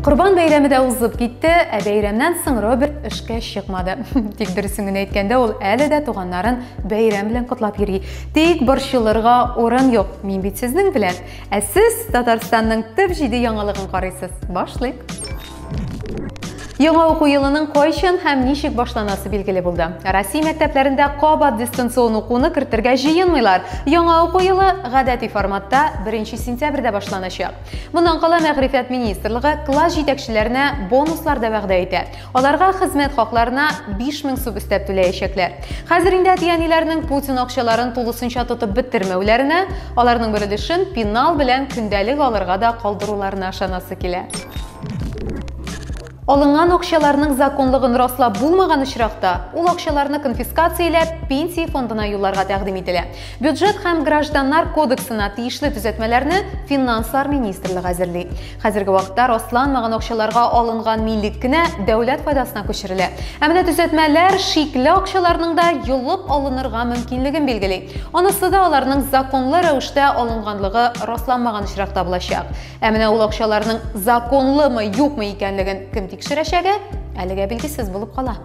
Корбан бәйрәме дә узып китте, ә бәйрәмнән соң Роберт эшкә чыкмады. Тик дөресен генә әйткәндә, ул әле дә туганнарын бәйрәм белән котлап йөри. Тик борчылырга урын юк. Мин бит сезнең белән. Ә сез Татарстанның төп җиде яңалыгын карыйсыз. Башлыйк. Яңа уку елының кайчан һәм ничек башланасы билгеле булды. Россия мәктәпләрендә кабат дистанцион укуны кертергә җыенмыйлар. Яңа уку елы гадәти форматта 1 сентябрьдә башланачак. Моннан кала мәгърифәт министрлыгы класс җитәкчеләренә бонуслар да вәгъдә итә. Аларга хезмәт хакларына 5000 сум өстәп түләячәкләр. Хәзер инде әти-әниләрнең Путин акчаларын тулысынча тотып беттермәүләренә, аларның бер өлешен пенал белән көндәлек алырга да калдыруларына ышанасы килә. Алынган акчаларның законлыгын раслап булмаган очракта, ул акчаларны конфискацияләп, пенсия фондына юлларга тәкъдим ителә. Бюджет һәм гражданнар кодексына тиешле төзәтмәләрне финанслар министрлыгы әзерли. Хәзерге вакытта расланмаган акчаларга алынган милек кенә дәүләт файдасына күчерелә. Ә менә төзәтмәләр шикле акчаларның да йолып алынырга мөмкинлеген билгели. Анысы да аларның законлы рәвештә алынганлыгы расланмаган очракта булачак. Ә менә ул акчаларның законлымы, юкмы икәнлеген кем тикшерәчәге әлегә билгесез булып кала.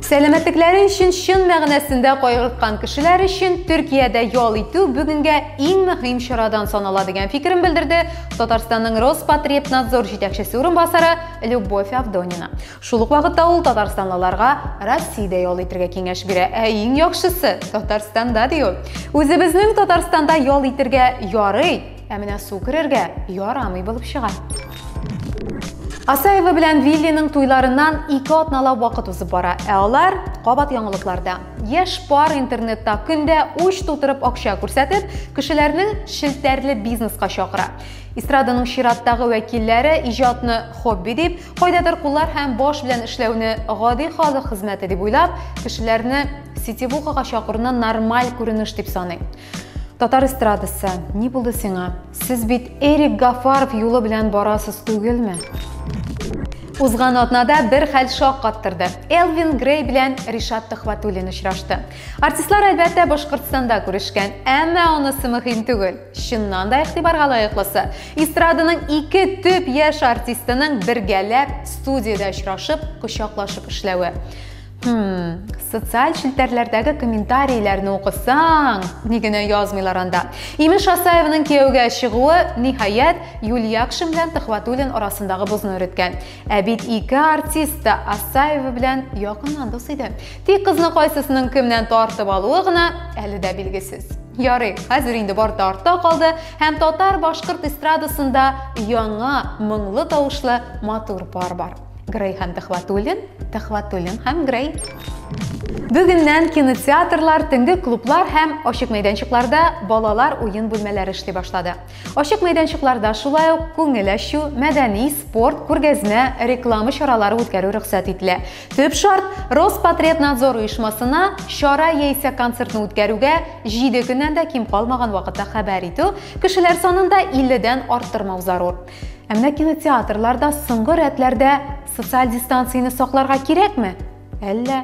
Сәламәтлекләре өчен чын мәгънәсендә кайгырткан кешеләр өчен Төркиядә ял итү бүгенгә иң мөһим чарадан санала дигән фикерен белдерде Татарстанның Роспотребнадзор җитәкчесе урынбасары Любовь Авдонина. Шул ук вакытта ул татарстанлыларга Россиядә ял итергә киңәш бирә. Ә иң яхшысы Татарстанда ди ул. Үзебезнең Татарстанда ял итергә ярый, ә менә су керергә ярамый булып чыга. Асаева белән Виллиның туйларыннан ике атналап вакыт узып бара, ә алар кабат яңалыкларда. Яшь пар интернетта көндә уч тутырып акча күрсәтеп, кешеләрнең шелтәрле бизнеска чакыра. Эстраданың чираттагы вәкилләре иҗатны хобби дип, Кайдадыр куллар һәм баш белән эшләүне гади халык хезмәте дип уйлап, кешеләрне сетевухага чакыруны нормаль күренеш дип саный. Татар эстрадасы, ни булды сиңа? Сез бит Эрик Гафаров юлы белән барасыз түгелме? Узган атнада бер хәл шок каттырды. Элвин Грей белән Ришат Төхвәтуллин очрашты. Артистлар әлбәттә Башкортстанда күрешкән, әмма онысы мөһим түгел. Чыннан да игътибарга лаеклысы, эстраданың ике төп яшь артистының бергәләп студиядә очрашып, кочаклашып эшләве. Хм, социаль челтәрләрдәге комментарийләрне укысаң, ни генә язмыйлар анда. Имеш Асаевның кияүгә чыгуы, ниһаять, Юльякшин белән Төхвәтуллин арасындагы бозны өреткән. Ә бит ике артист та Асаева белән якыннан дус иде. Тик кызны кайсысының кемнән тартып алуы гына әле дә билгесез. Ярый, хәзер инде бар да артта калды һәм татар-башкорт эстрадасында яңа моңлы тавышлы матур пар бар. Грей һәм Тәхватуллин, Тәхватуллин һәм Грей. Бүгеннән кинотеатрлар, төнге клублар һәм ачык мәйданчыкларда балалар уен бүлмәләре эшли башлады. Ачык мәйданчыкларда шулай ук күңел ачу, мәдәни, спорт, күргәзмә, реклама чаралары үткәрү рөхсәт ителә. Төп шарт, Роспотребнадзор оешмасына чара яисә концертны үткәрүгә 7 көннән дә ким калмаган вакытта хәбәр итү, кешеләр санында 50 дән арттырмау зарур. Ә менә кинотеатрларда соңгы рәтләрдә социаль дистанцияне сакларга кирәкме? Әллә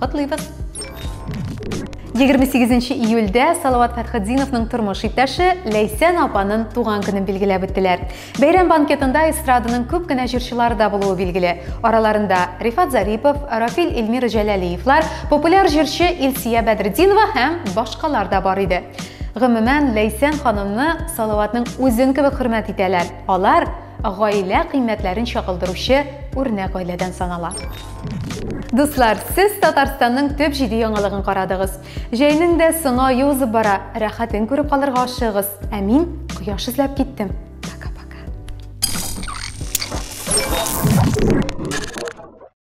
Котлыйбыз! 28 июльдә Салават Фәтхетдиновның тормыш иптәше Ләйсән апаның туган көнен билгеләп үттеләр. Бәйрәм банкетында эстраданың күп кенә җырчылары да булуы билгеле. Араларында Рифат Зарипов, Рафил Эльмир Җәләлиевлар, популяр җырчы Илсия Бәдретдинова һәм башкалар да бар иде. Гомумән, Ләйсән ханымны Салаватның үзен кебек хөрмәт итәләр. Алар Гаилә кыйммәтләрен чагылдыручы үрнәк гаиләдән санала. Дуслар, сез Татарстанның төп җиде яңалыгын карадыгыз. Җәйнең дә соңа юзып бара, рәхәтен күреп калырга ашыгыз. Ә мин кояш эзләп киттем.